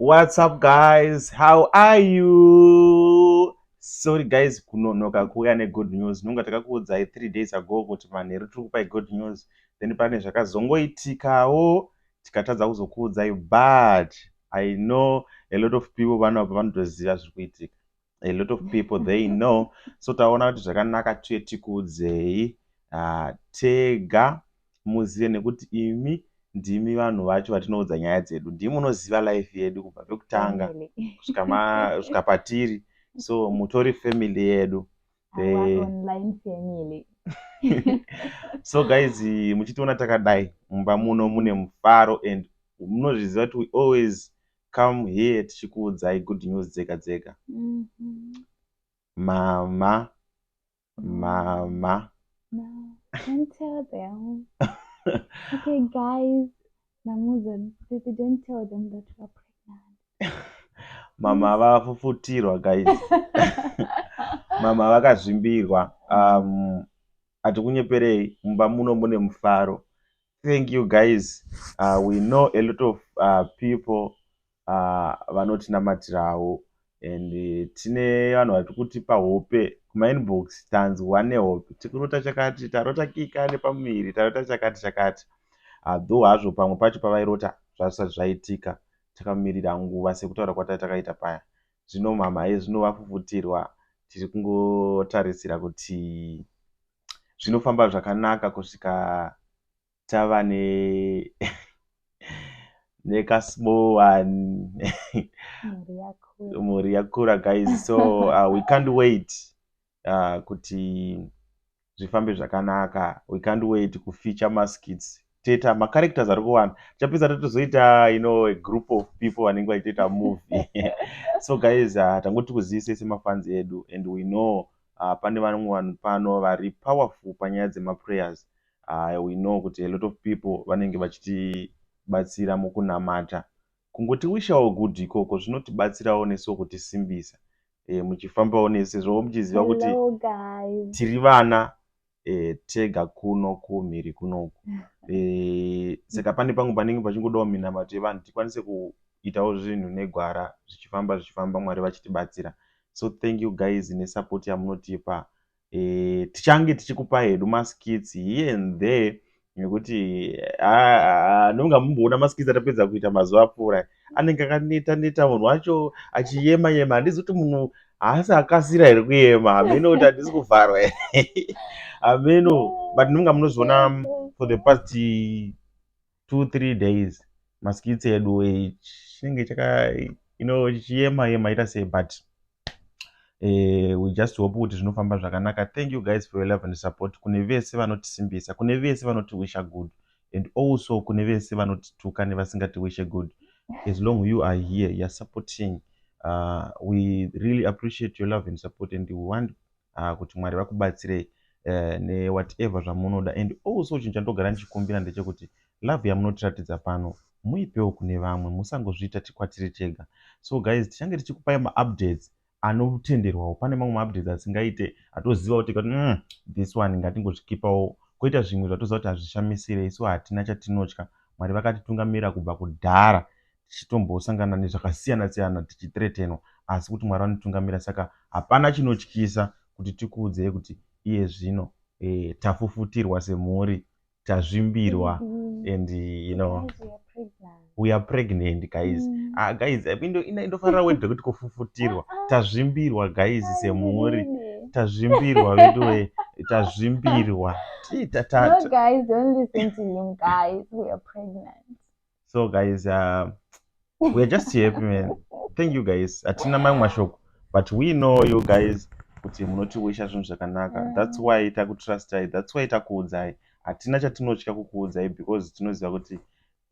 What's up guys? How are you? Sorry guys kunonoka kuuya negood news. Nonga takakuudzai three days ago kuti manheru tiri kupai good news. Then pane zvakazongoitikawo tikatadza kuzokuudzai but I know a lot of people vanopa vanotoziva zviri kuitika. a lot of people they know so taona kuti zvakanaka tuye tikuudzei uh, tega muzive nekuti imi ndimi vanhu vacho vatinoudza nyaya dzedu ndimi munoziva life yedu kubva pekutanga kusvika patiri so mutori family yedu so guys muchitiona takadai mumba muno mune mufaro and munozviziva kuti we always come here tichikuudzai good news dzega dzega mama mama okay guys namuza baby don't tell them that you are pregnant mama vafufutirwa guys mama vakazvimbirwa um hatikunyeperei mumba muno mune mufaro Thank you guys uh, we know a lot of uh, people uh, vanotinamatirawo and uh, tine vanhu vari kutipa hope kumainbox tanzwa nehope tikurota chakati tarota kika nepamuviri tarota chakati chakati adho uh, hazvo pamwe pacho pavairota zvazvisati zvaitika takamirira nguva sekutaura kwatai takaita paya zvino mhamha yezvino vafufutirwa tiri kungotarisira kuti zvinofamba zvakanaka kusvika tava ne nekasmall one mhuri yakura guys so uh, we can't wait uh, kuti zvifambe zvakanaka we can't wait kufeature maskits toita macharacters ari kuwanda tichapedza totozoita you know a group of people vanenge vachitoita movie so guys uh, tangoti kuzivise semafanzi edu and we know uh, pane vamwe vanhu pano vari powerful panyaya dzemaprayers uh, we know kuti a lot of people vanenge vachitibatsira mukunamata kungoti wishawo good ikoko zvinotibatsirawo nesu kutisimbisa e, muchifambawo nesu sezvo muchiziva kuti tiri vana tega kuno kumhiri kunoku saka pane pamwe panenge pachingodawo minamato yevanhu tikwanise kuitawo zvinhu negwara zvichifamba zvichifamba mwari vachitibatsira so thank you guys nesupport yamunotipa tichange tichikupa hedu maskits here and there nekuti anonga mumboona maskits atapedza kuita mazuva apfuura anenge akaneta neta munhu wacho achiyema yema handizi kuti munhu haasi akasira here kuyema hameno kuti handisi kuvharwa hameno but nonga munozviona for the past two three days maskits edu chinenge chaka ino chichiyema yema ita sei but eh, we just hope kuti zvinofamba zvakanaka thank you guys for your love and support kune vese vanotisimbisa kune vese vanotiwisha good and also kune vese vanotituka nevasingatiwishe good as long you are here youare supporting uh, we really appreciate your love and support and we want uh, kuti mwari vakubatsirei uh, newhatever zvamunoda and also chinhu chandogara ndichikumbira ndechekuti love yamunotiratidza pano muipewo kune vamwe musangozviita tikwatiri tega so guys tichange tichikupai maupdates anotenderwawo pane mamwe maupdates asingaite atozivawo tega kuti mm, this one ngatingozvikipawo koita zvimwe zvatoziva kuti hazvishamisirei so hatina chatinotya mwari vakatitungamirira kubva kudhara tichitombosangana nezvakasiyana siyana tichitretenwa asi kuti mwari vanotungamira saka hapana chinotyisa kuti tikuudzei kuti iye zvino eh, tafufutirwa semhuri tazvimbirwa mm-hmm. and you know we are pregnant guys mm. ah, guys indofarira word rekuti kufufutirwa ah, ah. tazvimbirwa guys semhuri tazvimbirwa vedu we tazvimbirwa so guys uh, weare just happy man thank you guys hatina mamwe mashoko but we know you guys kuti munotiwisha zvinhu zvakanaka mm. thats why takutrustai thats why takuudzai hatina chatinotya kukuudzai because tinoziva kuti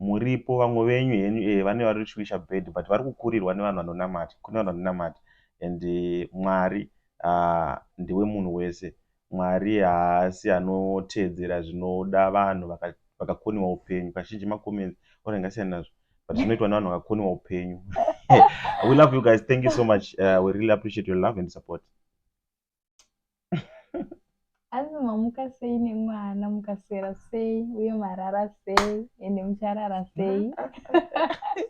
muripo vamwe venyu henyu e vane vari chiwisha bed but vari kukurirwa nevanhu vanonamata kune vanhu vanonamata and eh, mwari uh, ndiwe munhu wese Mwari haasi anoteedzera zvinoda vanhu vakakoniwa upenyu kazhinji macomments or angasiyana nazvo but zvinoitwa nevanhu vakakoniwa upenyu we love you guys thank you so much uh, we really appreciate your love and support asi mamuka sei nemwana mukaswera sei uye marara sei ende mucharara sei